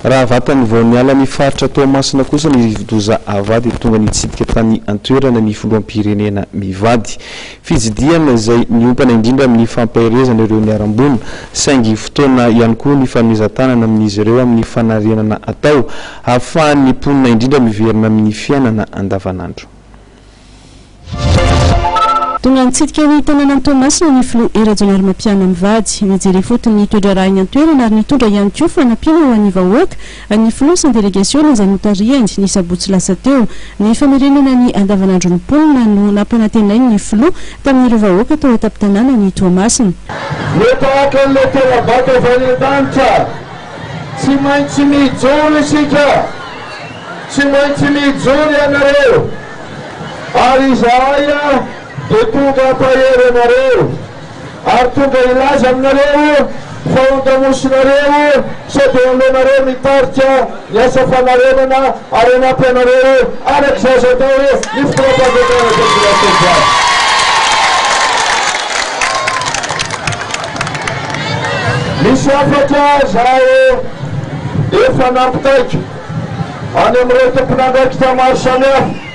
Raha vatany vao niala ny faritra Toamasina kosa ny rivodoza Ava dia tonga nitsidika tany an-toerana ny filoham-pirenena mivady. Fitsidihana izay miompana indrindra amin'ny fampaherezana ireo niharam-boina, saingy fotoana ihany koa ny fanomezan-tanana amin'izy ireo amin'ny fanarenana atao, hahafahan'ny mponina indrindra miverina amin'ny fiainana andavanandro. Tonga nitsidika ny tanànan'i Toamasina ny filoha Hery Rajaonarimampianina mivady. Nijery ifotony ny toe-draharahan'ny an-toerana ary nitondra ihany koa fanampiana ho an'ny vahoaka ny filoha sy ny delegasiona izay notarihany, ny sabotsy lasa teo. Ny famerenana ny andavanandron'ny mponina no nampanantenainy ny filoha tamin'ireo vahoaka tao an-tampon-tanànan'i Toamasina. Ho tahaka an'ilay tera-bato avy any an-danitra, tsy maintsy mijoro isika. Tsy maintsy mijoro ianareo ary izahay dia tonga hampahery anareo ary tonga hilaza aminareo fa ondamosinareo sao dia aleonareo mitarika ny asa fanarenana ary hanampy anareo araka izay azo atao ny fitondram-panjakana eto Tsimbazatrandriana. Misy hafatra zaho efa nampitaiko. any amin'ireo tompon'andraikitra maro samihafa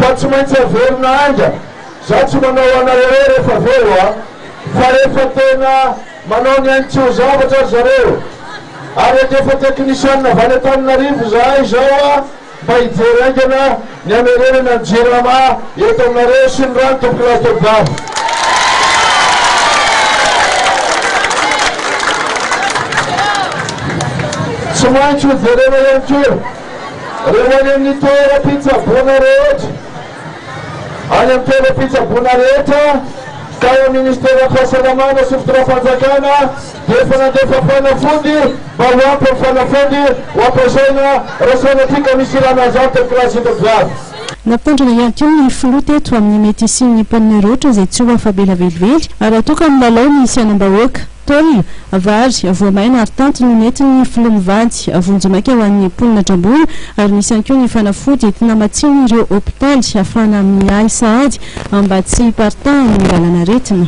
fa tsy maintsy averina haingana. Izaho tsy manao ho anareo hoe rehefa avy eo an, fa rehefa tena manao ny ainy tsy ho zavatra ry zareo. Ary handefa teknisianina avy any Antananarivo izahay izao an, mba hijery haingana. Ny hamerenana ny Jirama eto aminareo sy ny rano tompoko lahy tompoko vavy. Tsy maintsy ho jerena ihany koa reo any amin'ny toeram-pitsaboana rehetra, any amin'ny toeram-pitsaboana rehetra tao amin'ny ministeran'ny fahasalamana sy fitondrafanjakana, dia efa nandefa fanafody mba ho ampy amin'ny fanafody ho ampiasaina raha sanatria ka misy ilana azy ato amin'ny kilasy hitako ho avy. Nampitandrina ihany koa ny filoha teto amin'ny mety hisian'ny mponina rehetra izay tsy ho afa-bela velively raha toa ka milalao ny sainam-bahoaka. Tôle, vary, voamaina ary tanty no nentin'ny filoha mivady vonjimaika ho an'ny mponina Dramboina ary nisy ihany koa ny fanafody entina hamatsiana ireo hopitaly hafahana miahy sahady mba tsy hiparitahan'ny lalan'aretina.